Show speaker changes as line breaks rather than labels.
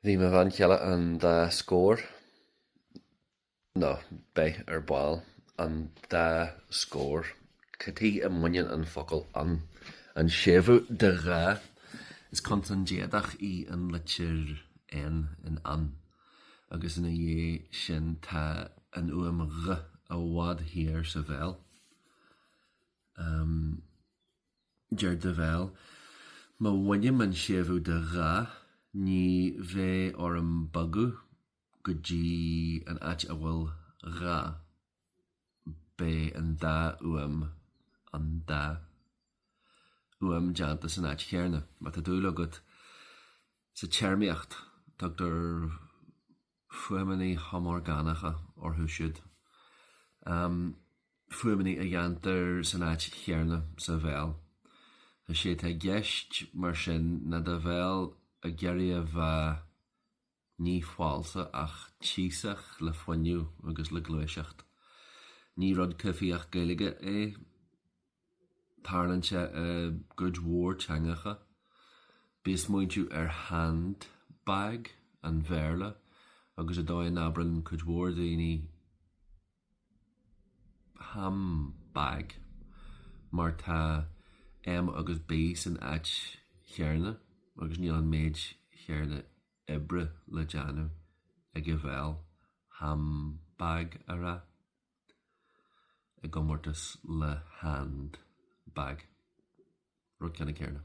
Bhí mo bhean chéile an dá scór, nó beidh ar ball, an dá scór cad chuige a mbaineann an focal an, an séimhiú de dhá. Is consan déadach í an litir N in an, agus ina dhiaidh sin tá an fhuaim gh i bhfad thiar sa bhéal. Deir do bhéal, Má bhainim an séimhiú de dhá, ní bheidh orm bogadh go dtí an áit a bhfuil dhá. Beidh an dá fhuaim, an dá, fhuaim déanta san áit chéarna. Má tá dúil agat sa téarmaíocht, tugtar. fuaimeannaí homorgánacha orthu siúd, fuaimeannaí a dhéantar san áit chéarna sa bhéal. Is é atá i gceist mar sin ná do bhéal ag iarraidh a bheith, ní falsa ach tíosach le fuinneamh agus le gluaiseacht. Ní rud coimhthíoch Gaeilge é. Tarlaíonn sé i gcuid mhór teangacha. Bí ag smaointiú ar handbag an Bhéarla agus an dóigh a n-abrann cuid mhór daoine hambag mar tá M agus B san áit chéarna agus níl an méid chéarna oibre le déanamh ag an bhéal hambag a rá. i gcomórtas le handbag, rud ceannann céarna.